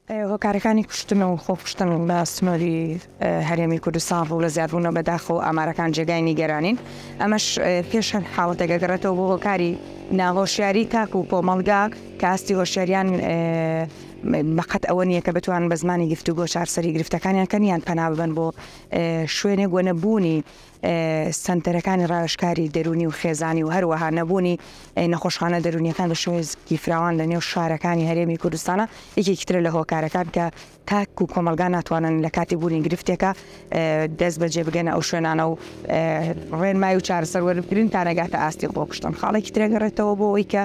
هۆکارەکانی کوشتن و خۆکوشتن لە سنووری هەرێمی کوردستان ڕوو لە زیادبوونە بەداخەوە و ئامارەکان جێگای نیگەرانین، ئەمەش پێش هەر حاڵەتێک ئەگەڕێتەوە بۆ هۆکاری ناهۆشیاری تاک و کۆمەڵگا کە ئاستی هۆشیاریان بەقەد ئەوە نییە کە بتوان بە زمانی گفتوگۆ چارسەری گرفتەکانیان کەن یان پەنا ببەن بۆ شوێنێک وە نەبوونی سەنتەرەکانی ڕاوێژکاری دەروونی و خێزانی و هەروەها نەبوونی نەخۆشخانە دەروونیەکان بە شێوەیەکی فراوان لە نێو شارەکانی هەرێمی کوردستانە یەکێکی ترە لە هۆکارەکان کە تاک و کۆمەلگا ناتوانن لە کاتی بوونی گرفتێکە دەست بەجێ بگەنە ئەو شوێنانە و ڕێنمای و چارەسەر وەربگرن تا نەگاتە ئاستی خۆکشتن خاڵێکی ترەگەڕێتەوە بۆ ئەوی کە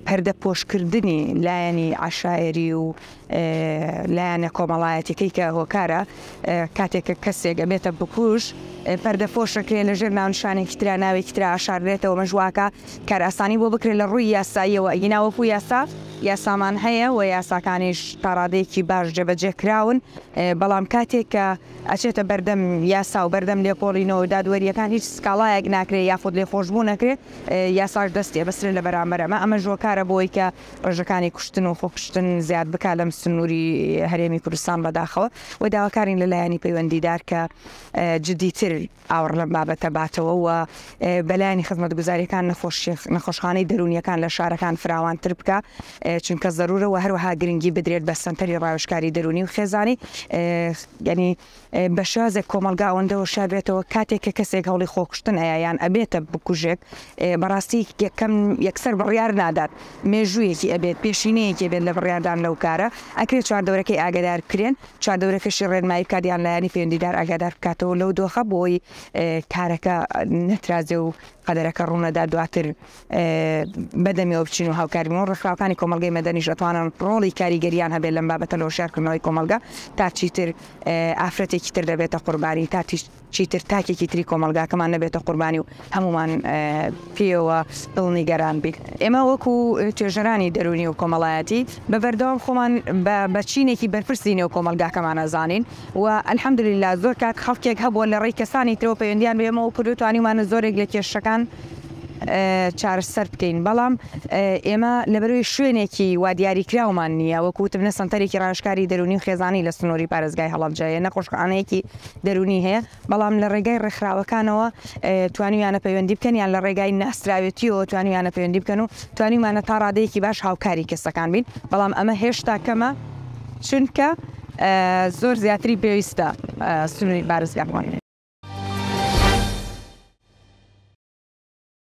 پەردە پۆشکردنی لایەنی عشاعری و لایەنە کۆمەڵایەتیەکەی کە هۆکارە کاتێک کە کەسێک ئەبێتە بکوژ پەردە پۆشەکرێ لە ژێر ناونشانێکی تررا ناوێکی تررا ئاشارێتەوە مەژواکە کارئاسانی بۆ بکرێت لە ڕووی یاساییەوە ئەگیناوەکو یاسا یاسامان هەیە و یاساکانیش تاڕادەیەکی باش جێبەجێ کراون بەڵام کاتێک کە ئەچێتە بەردەم یاسا و بەردەم لێکۆڵینەوە دادوەریەکان هیچ سکاڵایەک ناکرێت یاخود لێ خۆشببوو نەکرێت یاساش دەستی بەسرێت لە بەرامبەرەمە ئەمە ژۆکارە بۆی کە ڕێژەکانی کوشتن و خۆکوشتن زیاد بکات لەم سنووری هەرێمی کوردستان بەداخەوە و داواکارین لە لایەنی پەیوەندیدار کە جدیتر ئاوڕ لەم بابەتە باتەوە و بەلایانی خزمەت گوزاریەکان نەخۆشخانەی دەرونیەکان لە شارەکان فراوانتر بکە چونکە زەرورە و هەروەها گرنگی بدرێت بە سنتەری ڕاوشکاری دەرونی و خێزانی گەنی بە شێوازێک کۆمەڵگا ئەوەندە هۆشیار بێتەوە کاتێک کە کەسێک هەوڵی خۆکوشتن ئەیا یان ئەبێتە بکوژێک بەڕاستی یەکەم یەکسەر بڕیار نادات مێژوویەکی ئەبێت پێشینەیەکی بێت لە بڕیاردان لەو کارە ئەکرێت چواردەورەکەی ئاگدار کرێن چادەورەکەشی ڕێنمایی بکات یان لایەنی پەیوەندیدار ئاگادار بکاتەوە لەو دۆخە بۆی کارەکە نەترازێ و قەدەرەکە ڕوونەدا دواتر بەدەمیەوە بچین و هاوکار بین و ڕێکخراوەکانی کۆمەڵگەی مەدەنیش ئەتوانن ڕۆڵی کاریگەریان هەبێت لەم بابەتە لە هۆشیارکردنەوەی کۆمەڵگە تا چیتر ئافرەتێکی تر دەبێتە قوربانی تا چیتر تاکێکی تری کۆمەلگاکەمان نەبێتە قوربانی و هەمومان پێوە دڵنیگەران بیت ئێمە وەکو توێژەرانی دەرونی و کۆمەڵایەتی بە بەردەوام خۆمان بە بەچینێکی بەرپرسی نێو کۆمەلگاکەمانە زانین و الحمدللە زۆر کات خەڵکێک هەبووە لە ڕێی کەسانی ترەوە پەیوەندیان بەێمەوە کرد و توانیومانە زۆرێک لە کێشەکان چارەسەر بکەین بەڵام ئێمە لەبەروی شوێنێکی وادیاری کراومان نییە وەکوتم نە سنتەرێکی ڕاشکاری دەرونی و خێزانی لە سنووری پارێزگای هەڵەبجەیە نەخۆشخانەیەکی دەرونی هەیە بەڵام لە ڕێگای ڕێکخراوەکانەوە توانیویانە پەیوەندی بکەن یان لە ڕێگای ناسراوێتیەوە توانیویانە پەیوەندی بکەن و توانیمانە تا ڕادەیەکی باش هاوکاری کەسەکان بین بەڵام ئەمە هێشتا کەمە چونکە زۆر زیاتری پێویستە سنووری بارزگاکان.